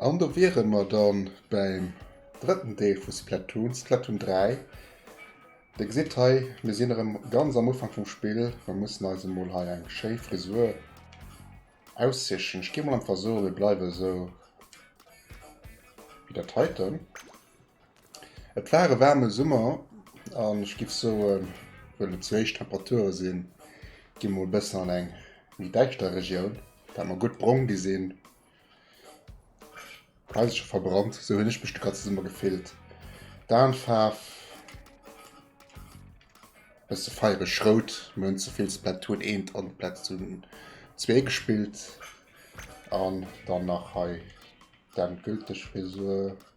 An do wiere mer da bäim drëtten Deel vu Splatoon, Splatoon 3. Dir gesitt hei, mir sinn erëm ganz am Ufank vum Spill. Mer mussen eis emol hei eng schéi Frisur aussichen. Ech géif mol einfach soen, mir bleiwe esou wéi dat heiten. Et war e waarme Summer an ech giff soen, well et sou héich Temperature sinn, gi mol e bëssen an eng méi däischter Regioun, dat mer gutt brong gi sinn. Hei se scho verbrannt, sou hunn ech mech de ganze Summer gefillt. D'Aenfaarf, bësse feiereg rout, mir hunn ze vill Splatoon 1 an Splatoon 2 gespillt an dann nach hei d'endgülteg Frisur.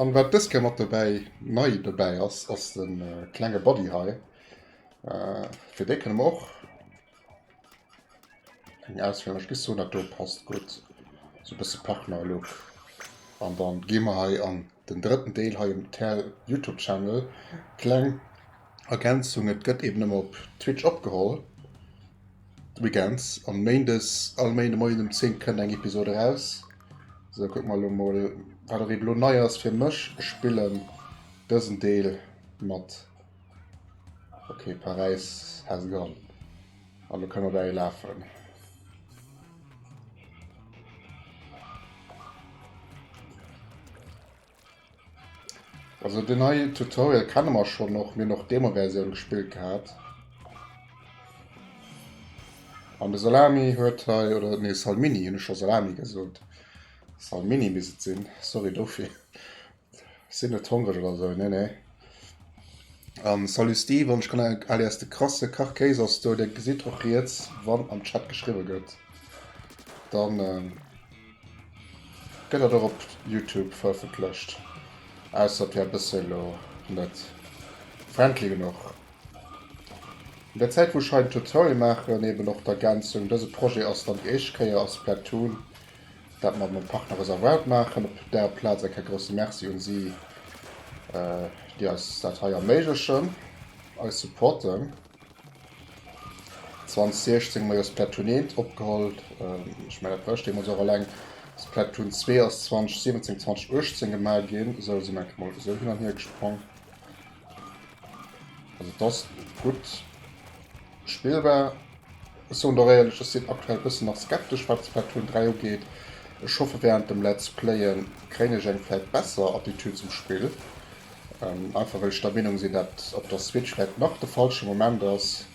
An wat dës Kéier mat dobäi, nei dobäi ass, ass de klenge Buddy hei. Äh, fir dee kënne mer och eng Ausféierung. Ech gi soen, dat do passt gutt. Sou e bësse Partner-Look. An da gi mer hei an den drëtten Deel hei um Youtube-Channel. Kleng Ergänzung, et gëtt eben ëmmer op Twitch opgeholl, weekends. An méindes, all Méinde Moien um 10 kënnt eng Episod eraus. So, guck mal mal, wat er eben lo nei ass fir mech. Ech spillen dësen Deel mat. Okay, Paris has gone. Also können wir bei ihr laufen. Also den neien Tutorial kennen wir schon noch, mir noch Demo-Version gespielt gehabt. An der Salami hört hei, oder nee, Salmini, ich schon Salami gesagt. Salmini müsste es sein, sorry dafür. Sind nicht hungrig oder so, nee, nee. Um, salut Steve, und ich kann alias de krasse Kachkäse aus du, der gesieht auch jetzt, wann am Chat geschrieben wird. Dann, ähm, Gëtt dat och op Youtube verëffentlecht? Ausser fir eppes elo net friendly genuch. An der Zäit wou ech hei den Tutorial maachen, eben och d'Ergänzung, dëse Projet ass dann déi éischt Kéier a Splatoon, dat mer mam Partner Reservoir maachen. Op där Plaz eng Kéier grousse Merci un si, déi eis dat hei erméiglechen, eis supporten. 2016 hu mer jo Splatoon 1 opgeholl. Ech mengen, dat war ech deemools och eleng. Splatoon 2 ass 2017, 2018 gemaach ginn. Esou sinn einfach mol esou hin an hier gesprong. Also, et ass gutt spillbar. Ech soen der éierlech, ech sinn aktuell e bëssen nach skeptesch, wat Splatoon 3 ugeet. Ech hoffe, wärend dem Let's Playen kréien ech eng vläicht besser Attitüd zum Spill. Einfach well ech der Meenung sinn dat op der Switch vläit nach de falsche Moment ass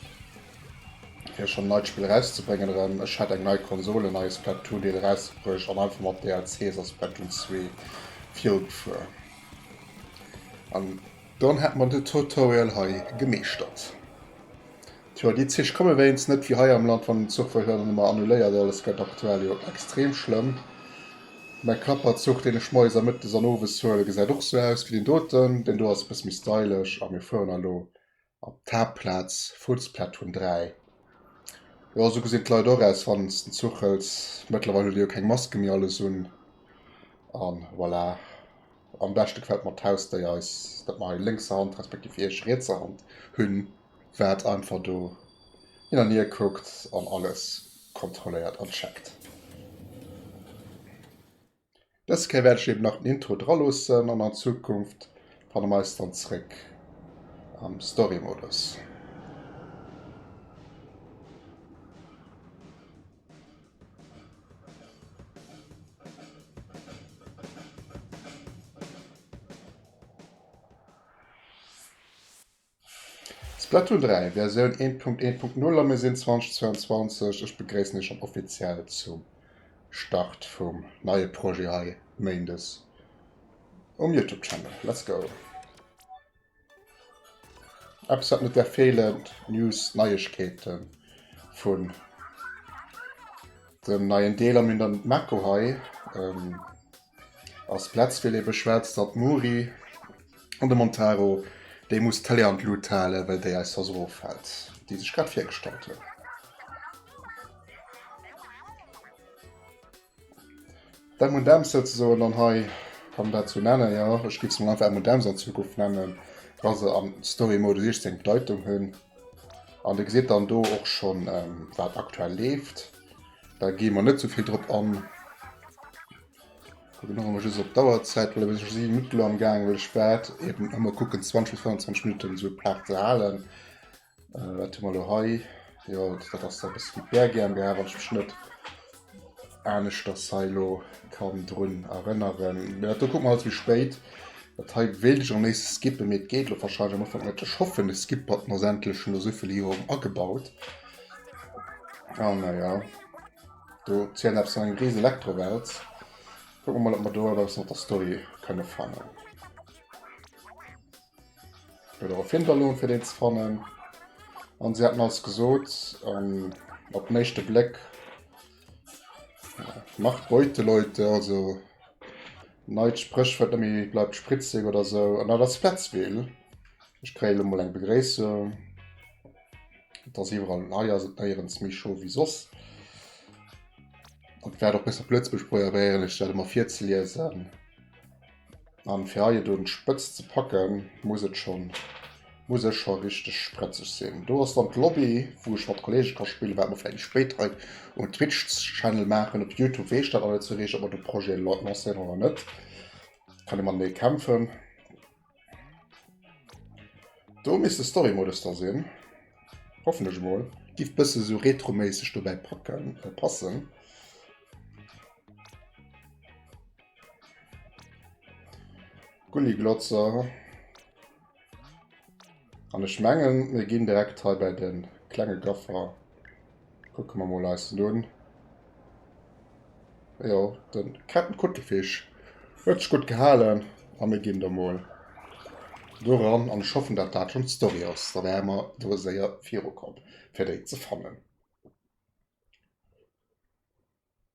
fir schonn en neit Spill erauszebréngen erëm. Ech hätt eng nei Konsol, en neie Splatoon Deel erausbruecht an einfach mat DLCs a Splatoon 2 virugfuer an dann hätt mer de Tutorial hei gemeeschtert. Tjo, déi Zich komme wéinst net wéi hei am Land, wann den Zuch wëll huelen, ëmmer annuléiert. Alles gëtt aktuell jo extrem schlëmm. Mäi Klapperzuch, deen ech moies a mëttes an owes huelen, gesäit och sou aus wéi deen doten. Deen do ass e bësse méi stylesch a mir fueren elo op d'Haaptplaz, Fuussplattun 3. Jo, sou gesinn d'Leit och aus, wann s den Zuch hëls. Mëttlerweil hu déi jo keng Maske méi alles un. An voilà. Am beschte gefält mer d'Hausdéier, dat mer hei lénkser Hand, respektiv iech rietser Hand hunn, wat einfach do hin an hier kuckt an alles kontrolléiert an checkt. Dës Kéier wäert ech eben nach den Intro dra loossen an an Zukunft fanne mer eis dann zréck am Story-Modus. Splatoon 3, Versioun 1.1.0 a mir sinn 2022. Ech begréissen iech schon offiziell zum Start vum neie Projet hei Méindes um Youtube Channel. Let's go! Eppes wat net därf feelen, News, Neiegkeeten vun dem neien Deel am Internet Mako hei ass Platzwee lee beschwätzt datt d'Mouri an de Montaro déi muss d'Tele an d'Lut halen well déi eis soss eroffält déi sech grad virgestallt hunn. D'M&M's souzesoen dann hei, kann een dat sou nennen, jo, ech géif se mol einfach M&M's an Zukunft nennen, wa se am Story Mode 16 Bedeitung hunn. An Dir gesitt dann do och schonn, wat aktuell leeft. Da gi mer net sou vill drop an. Kucken och emol just op d'Auerzäit, well ech si e bësse midd elo am Gaangen, well ech waert eeben ëmmer kucken, 20 bis 25 Minutten esou d'Paart ze halen. Wat hu mer elo hei? Jo, dat ass da e bëssen d'Bär GmbH, wann ech mech net aneschters hei elo kann drun erënneren. Mä dat do kucke mer alles méi spéit. Dat hei wéilt ech am léifste skippen, mee et geet elo wahrscheinlech am Ufank net. Ech hoffen, e Skip-Button ass endlech no esou ville Joren agebaut. A naja, do zielt eppes an eng ris Elektrowelt. Kucke mer mol, ob mer do eppes mat der Story kënne fannen. Oder auf Hinterlohn fir deen ze fannen. An se hätten alles gesot an op meeschte Bléck ja, macht Beute Leute, also neit Spréchwuert nëmi bleibt spritzig oder so an dat ass Fletzwil. Ech kréie lo mol eng Begréissung. Dat ass iwwerall hei ass et néierens méi scho wéi soss. An wäert och besser Plëtzbesch proieren ech dat emmer virzeliesen. An fir hei et un d'Spëtzt ze packen, muss et schon muss ech scho richteg sprëtzeg sinn. Do ass dann d'Lobby, wou ech mat Kollege ka spillen, wat mer vläicht spéit hei um Twitch-Channel maachen. Op Youtube weess ech dat nach net sou riicht, ob mer de Projet lancéieren oder net. Kann ee matenee kämpfen. Do misst de Story-Modus da sinn. Hoffentlech mol. Giff bësse sou retroméisseg dobäi packen, passen. Gulliglotzer. An ech mengen, wir gehen direkt hei bei den klengen Gaffer. Gucken wir mal eis nun. Ja, den Captain Kuttelfisch. Hört sich gut gehalten. Und wir gehen da mal doran. Und ich hoffe, dass das schon die Story ist. Da wären wir da sehr viel kommen, für die zu fangen.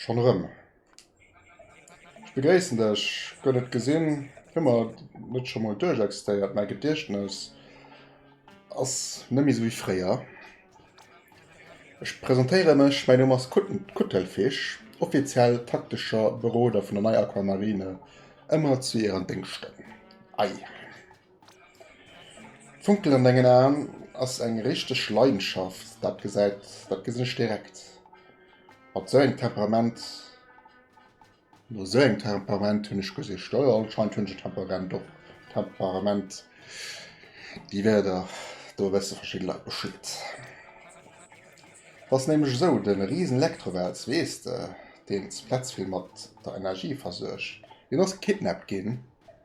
Schon rëm. Ech begréissen dech. Gëtt et gesinn? Hu mer net scho mol duerchexistéiert? Mäi Gediechtnes ass net méi sou wéi fréier. Ech presentéiere mech, mäi Numm ass Kutten, Kuttelfich, offiziell taktescher Beroder vun der Nei Aquamarine, ëmmer zu Ären Déngschten. Ei. D'Funkelen an dengen Aen ass eng richteg Leidenschaft, dat gesäit, dat gesinn ech direkt. Mat sou engem Temperament, no sou engem Temperament hunn ech gesicht. Jo jo, anscheinend hunn ech e Temperament, och Temperament, déi Wierder do wësse verschidde Leit Bescheed. T'ass nämlech esou, de risen Elektrowels, weess de, deen d'Splattsville mat der Energie versuergt, deen ass gekidnappt ginn.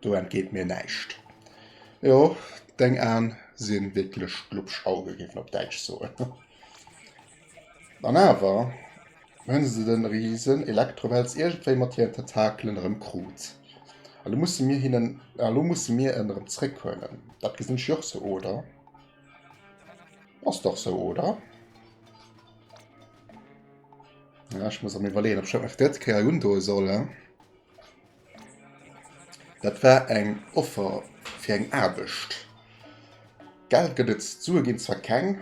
Do entgeet mir näischt. Jo, deng Aan sin wierklech glubsch Augen, géif een op Däitsch soen. An awer hun se den riesen Elektrowels iergendwéi mat hieren Tentakelen erëm kruut. An elo mussen mir hinnen, an elo mussen mir en erëm zréck huelen. Dat gesinn ech jo och sou, oder? Ass dach sou, oder? Ja, ech muss erëm iwwerleeën, ob ech dat net fir d'drëtt Kéier undoen soll, he? Dat war eng Offer fir eng Aarbecht. Geld gëtt et, Sue ginn zwar keng,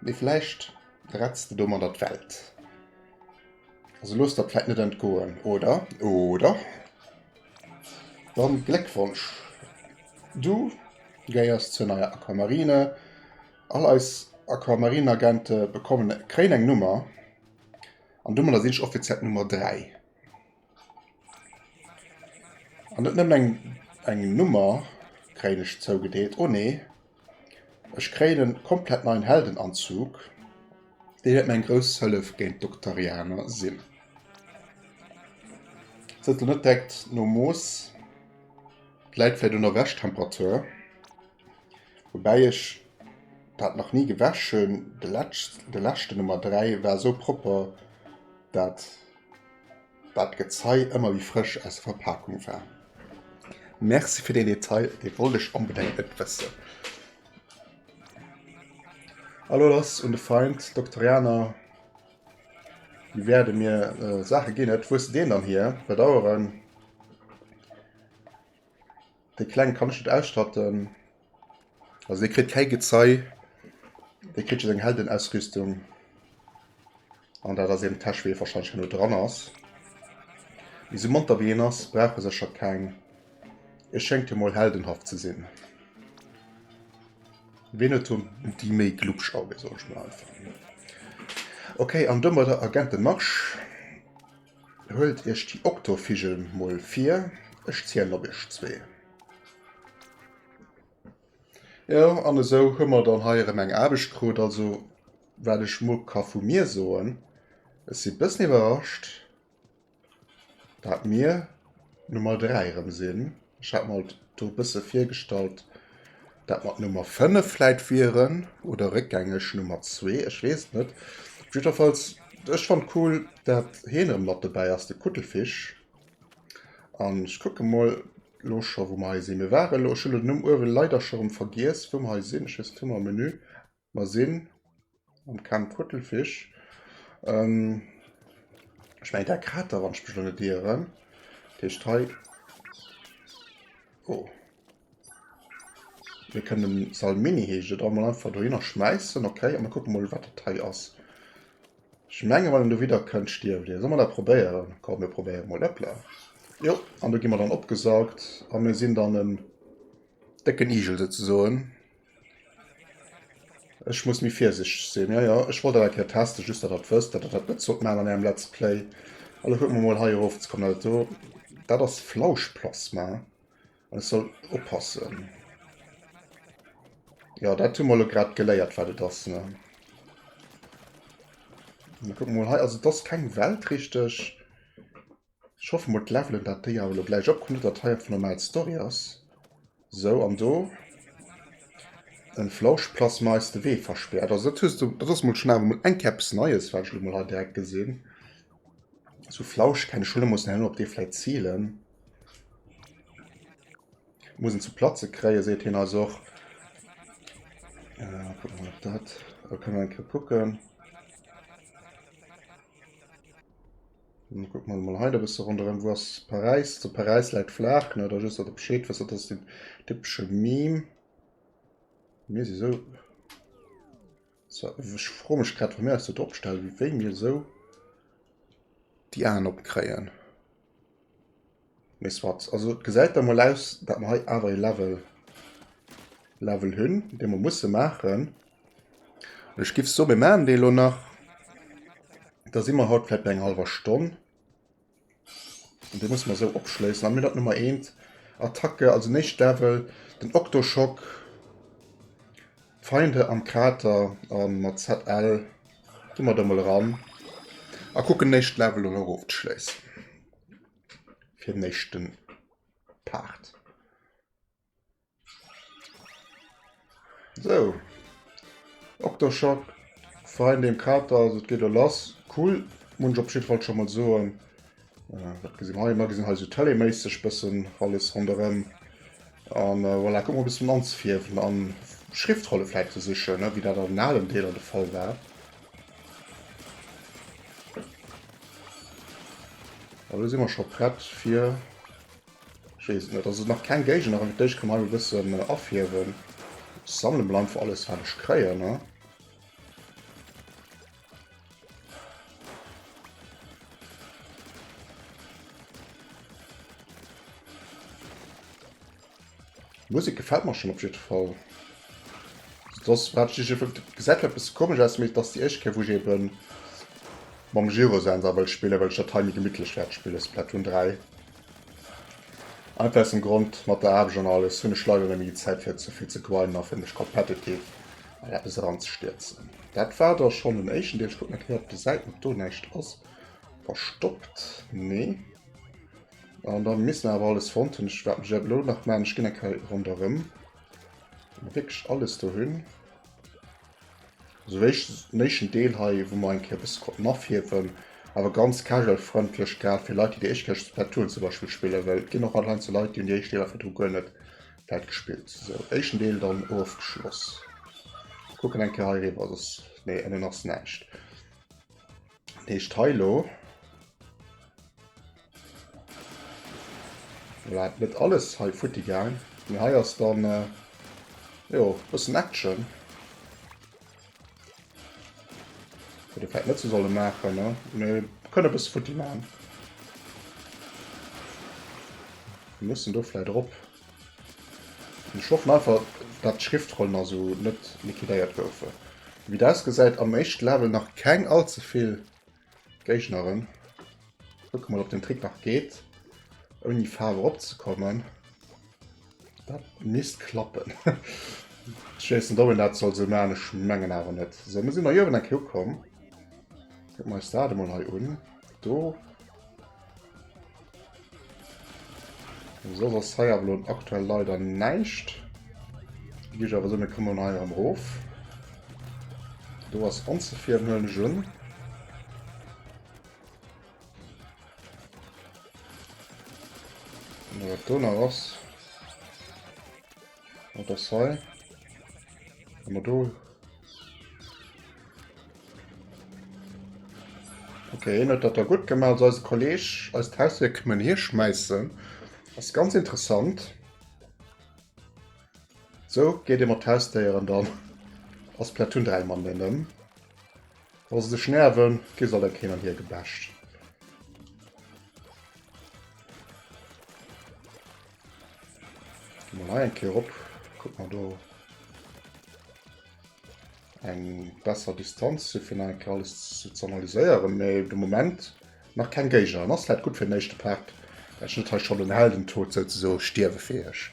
mee vläicht retts de domadder d'Welt. Also looss der d'Fäit net entgoen, oder? Oder? Dann Gléckwonsch, du gehéiers zur neier Aquamarine. All eis Aquamarineagente bekommen, kréien eng Nummer, an domadder sinn ech offiziell d'Nummer 3. An net nëmmen eng, eng Nummer kréien ech zougedeelt. Oh nee. Ech kréien en komplett neien Heldenanzug. Dee wäert mir eng grouss Hëllef géint d'Doktarianer sinn. Ass dat elo net direkt no Moos? Läit vläit un der Wäschtemperatur. Woubäi ech dat nach ni gewäsch hunn. De lätsch, de läschten, Nummer 3, war esou propper, dat Waat Gezei emmer wéi frësch aus der Verpaakung war. Merci fir den Detail, dee wollt ech onbedengt net wëssen. Elo lass un de Feind, d'Doktorianer. Déi wäerden mir Saachen ginn. Wou hues de deen dann hier? Bedauern. De kleng kann ech net ausschatten. Also dee kritt kei Gezei. Dee kritt eng Heldenausrüstung. An dat ass eben Täsch wéi verschschein no dran ass. Wie se monter wéi en ass, brauche secher keng. E schéngt jo mol heldenhaft ze sinn. Ween huet hun déi méi glubsch Augen, soen ech mol einfach. Okay, an domadder Agenten Marsch! Huelt iech déi Oktovigel mol vir, ech zielen op iech zwee. Jo, an esou hu mer dann hei erëm eng Aarbecht krut. Also, wat ech mol ka vu mir soen, ech si bëssen iwwerrascht, dat mir Nummer 3 erëm sinn. Ech hat mer et do e bësse virgestallt, dat mat Nummer 5 vläit wieren oder réckgängeg Nummer 2, ech weess et net. Op jiddwerfalls, ech fannt cool, dat heen erëm mat dobäi ass, de Kuttelfish. An ech kucke mol elo scho wou mer hei sinn. Mir ware elo, ech hunn den Numm uewe leider scho erëm vergiess, wou mer hei sinn. Ech weess et, hu mer e Menü? Mer sinn am Camp Kuttelfich. Ech mengen dat hat der, wann ech mech elo net ieren. Dat heescht hei. Oh. Mir kënnen Salmini heescht et, emol einfach dohinner schmäissen. Okay, a mir kucke mol, wat dat hei ass. Ech menge wann en do widder kënnt, stierft ee. Solle mer dat probéieren? Komm, mir probéiere mol. Hëppla. Jo, an do gi mer dann opgesaugt a mir sinn dann en décken Igel souzesoen. Ech muss méi virsichteg sinn. Ja, ja, ech wollt dat eng Kéier testen, just dat dat wësst, dat dat net zot man an engem Let's Play. Allo kucken mer mol hei erof ze kommen. Dat do, dat ass Flauschplasma. An ech soll oppassen. Ja, dat hu mal grad geléiert, wat et ass, ne? Kuck mal hei, also das keng Welt richtig. Ech hoffe mol d'Levelen dat déi awer elo gläich opkommen, net dat hei einfach normal d'Story ass. Sou an do en Flauschplasma eis de Wee verspäert. Also dat hues du, dat ass mol schon awer mol eng Kéier eppes Neies wat ech elo mol hei direkt gesinn. Sou Flausch kennen ech elo, muss nach elo op dee vläit zielen. Muss en zu platze kréien seet hien eis och. Äh, kucken mol op dat, da kënne mer eng Kéier kucken. Guck mal mal heide bisse ronderëm wo ass Paräis zu Paräis läit flaach ne da just dat Bescheed wësse dats den typsche Meme mir si so ech fro mech grad vu mir aus dat opstellen wéi mir sou déi Aen opkréien. Mee soit. Also et gesäit da mol aus, dat mer hei awer ee Level Level hunn, dee mer musse maachen. An ech giff soen, mir maachen dee elo nach. Da si mer haut vläit bei enger hallwer Stonn. An dee musse mer esou opschléissen. Dann hunn mir dat Nummer eent, Attacke, also den éischte Level, den Octoshock, Feinde am Krater. A mat ZL gi mer do mol eran a kucken den éischte Level elo erofzeschléissen. fir den éischten Part. So. Octoshock, Freien dem Kater, also et geet lo lass. Cool, muss ech op jeden Fall schon mal soen. Äh, wat gesinn hei? Mer gesinn hei so teleméisseg bëssen alles ronderëm. An äh, voilà, guck mal bis zum Anzefierwen an Schriftrolle vielleicht zu sichern, ne? wie dat an allen Deeler de Fall war. An lo si mer scho prett fir Jees net ass nach keng Géigner an Dich kann mal bëssen äh, afiewen. Sammle mal einfach alles wat ech kréien ne. Musek gefällt mer schon op jiddwer Fall. Soss wat ech ech gesäit zwar e bësse komesch aus, mee et ass déi éischt Kéier wou ech ebe mam Gyrosensor wëll spillen, well ech dat hei méi gemittlech wäert spillen, Splatoon 3. Einfach aus dem Grond, mat der Aarbecht an alles hunn ech leider net méi déi Zäit fir ze vill ze grinden a fir mech competitive an eppes eranzestierzen. Dat war da schonn den éischten Deel. Ech kucken nach eng Kéier op de Säiten, ob do näischt ass verstoppt. Nee. An dann misst awer alles fonnt hunn. Ech waart mech awer lo nach man ech ginn eng Kei ronderëm wierklech alles do hunn. Sou wéicht néichen Deel hei wou mer eng Keier bësse konnten afiewen. Awer ganz casual frëndlech grad fir Leit déi déi éischt Keier Splatoon zum Beispill spillen. Well et ginn och anheinend sou Leit déi hunn déi éischt Deeler virdru guer net wäit gespillt. Sou éischten Deel dann ofgeschloss. Kucken eng Keier hei riwwer soss nee ënnen ass näischt. Deeg Teilo wat net alles hei futti gang mir hei ass dann äh, jo bëssen Action de Fett net ze solle machen ne mir kënne bis futti ma mussssen do fly drop. Ech hoffen einfach dat d'Schriftrollen a sou net liquidéiert goufen. Ewéi et ausgesäit am éischte Level nach keng all ze vill Géigneren. Kucke mol op den Trick nach geet ouni Faarf erop ze kommen. Dat misst klappen. Ech weess net ob een dat soll sou man, ech mengen awer net. Sou mir si mei uewen enke ukomm. Kucken mer eis dat emol hei un do. Soss ass hei awer elo aktuell leider näischt. Déi gi ech awer esou, mir kommen hei erëm erof. Do ass onzefir, en huelen ech un. Wat do nach ass. Oh, das hei. Wenn wir do. Okay, net dat er gut gemacht als Kolleg als Tausier këmmen hier schmeißen. Das ist ganz interessant. So geht immer Tausdéieren dann als Platoon 3 man nennen. Wa se sech nerven, gi soll der Ken an hier gebascht. Mal eng Kéier op. Guck mal do. Eng besser Distanz si fir eng alles ze analyséieren, méi de Moment nach keng Géiger. An ass läit gutt fir den éischte Part. Ech net hei schon den Heldentod souzeso stierwefäeg.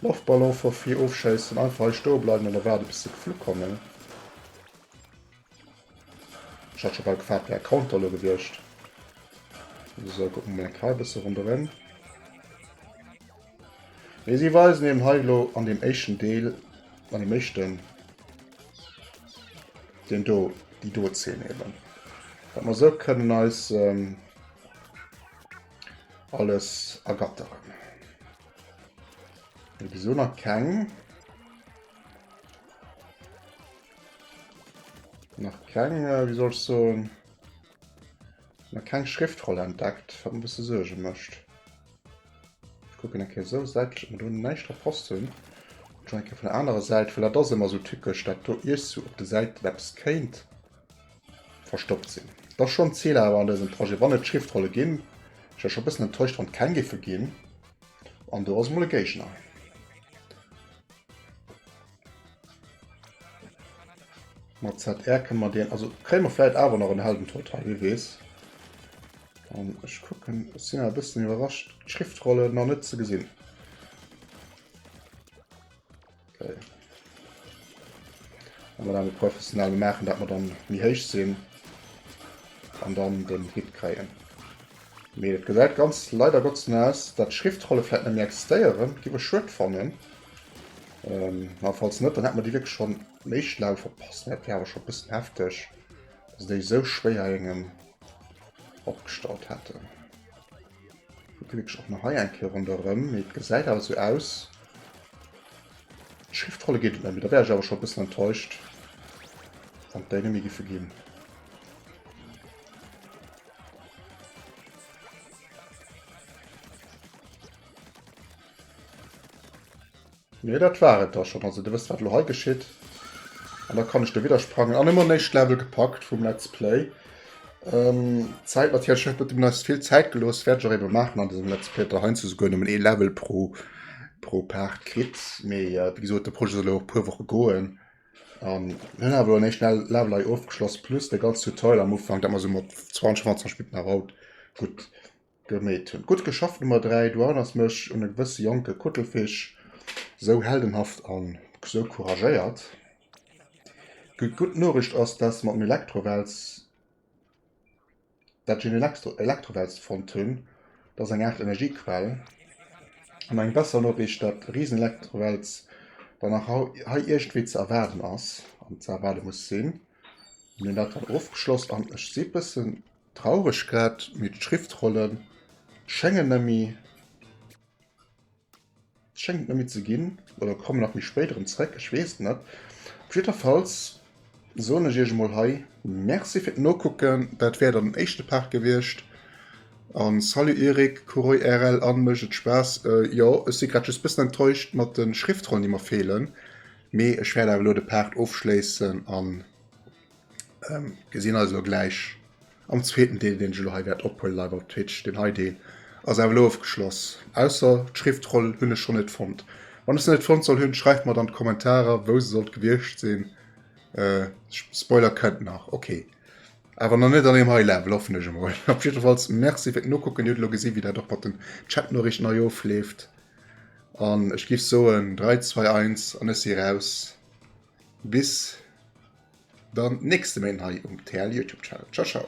Loftballon for free ofschéissen, einfach hei stoe bleiwen an erwaarde bis se geflu kommen. Ech hat scho bal gefaart wär e Counter lo gewiescht. So guck mol eng Kei bësse ronderëm. Mee si weisen eben hei lo an dem éischten Deel, an dem éischten den do déi do Zeen eben. Dat mer sou kënnen eis ähm, alles ergatteren. Wieso nach keng? Nach keng, äh, wie soll so nach keng Schriftroll entdeckt, wat ein bisschen Sorge mischt. Ich gucken okay, so Seite ich mir nicht der Post hun. Schon von der anderen Seite, weil das immer so typisch, dat du ihr so op der Seite etwas kennt verstoppt sinn. Das schon Ziel aber an diesem Projekt wann net Schriftrolle ginn. Ich war schon bisschen enttäuscht wann kein Giffe ginn. An du hast mal Gegner. Mat ZR kënne mer deen, also kréie mer vläit awer nach en Heldentotal, wie weess. An ech kucken, ech sinn awer e bëssen iwwerrascht, d'Schriftrolle nach net ze gesinn. Okay. An dann awer professionell maachen, dat mer dann méi héich sinn an dann den Hit kréien. Mee et gesäit ganz leider Gottes no aus, datt d'Schriftrolle vläit net méi existéieren, géif ech schued fannen. Ähm, na, falls net, dann hätten wir déi wirklich schon méi schlau verpasst. Dat wär awer schon e bëssen heftig, dass se déi esou schwéier engem opgestallt hätten. Gucke wirklich och nach hei eng Kéier ronderëm. Mee et gesäit awer esou aus. D'Schriftrolle geet et net méi. Da wär ech awer schon e bëssen enttäuscht, wann et déi net méi giffe ginn. Mee dat war et da schonn. Also Dir wësst, wat elo hei geschitt. An da kann ech de Widder sprangen. An ëmmer néischt Level gepackt vum Let's Play. Ähm, Zäit natierlech net, wat dem Let's vill Zäit gelooss. Wäert ech och eebe maachen an dësem Let's Play, datt Der heiansdo souguer nëmmen ee Level pro, pro Part kritt. Mee wéi gesot, de Projet soll jo och e puer Woche goen. An mir hunn awer elo en éischte Level hei ofgeschloss, plus dee ganze Tutorial am Ufank, dat mer esou mat 20, 25 Minutten eraugutt Gemeet hun. Gudd geschafft Nummer 3, du erënners mech un e gewësse jonke Kuttelfisch, sou heldenhaft an sou couragéiert. Di gudd Noricht ass daats de mat dem Elektrowels, daat ech een Elektrowels fonnt hun, daat ass eng Art Energiequell. An eng besser Noricht, daat riesen Elektrowels dann nach hei irgendwéi ze erwaarden ass, an ze erwaarde muss sin. Hun daat dann ofgeschloss an ech si bëssen. Traureg grad, mee d'Schriftrollen schengen nemmi schengt nemmi ze ginn, oder kommen nach méi spéit erem zréck, ech wees et net. Op jiddferfalls soen ech iech emol hei merci fir d'Nokucken, dat wär dann den éischte Part gewiescht, an salut Eric, Kuroi RL an, mécht et Spaass? Jo, ech si grad just bëssen enttäuscht mat den Schriftrollen déi mer feelen, mee ech wäert awer elo de Part ofschléissen an. Ähm, gesinn eis lo gläich am zweeten Deel, deen ech lo hei wäert ophuelen live op Twitch. Den hei Deel ass awer lo ofgeschloss. Ausser d'Schriftroll hunn ech scho net fonnt. Wann ech se net fonnt soll hunn, schreift mat an d'Kommentarer, wou se sollt gewiescht sinn. Äh, Spoiler kënnt nach, okay. Awer nach net an deem hei Level, hoffen ech emol. Op jiddefalls Merci fir d'Nokucken. Dir hutt lo gesinn, wéi dat och mat den Chatnoriichten hei ofleeft. An ech giff soen, 3, 2, 1 an ech si raus. Bis dann nächste Méint hei um TL Youtube Channel. Ciao ciao.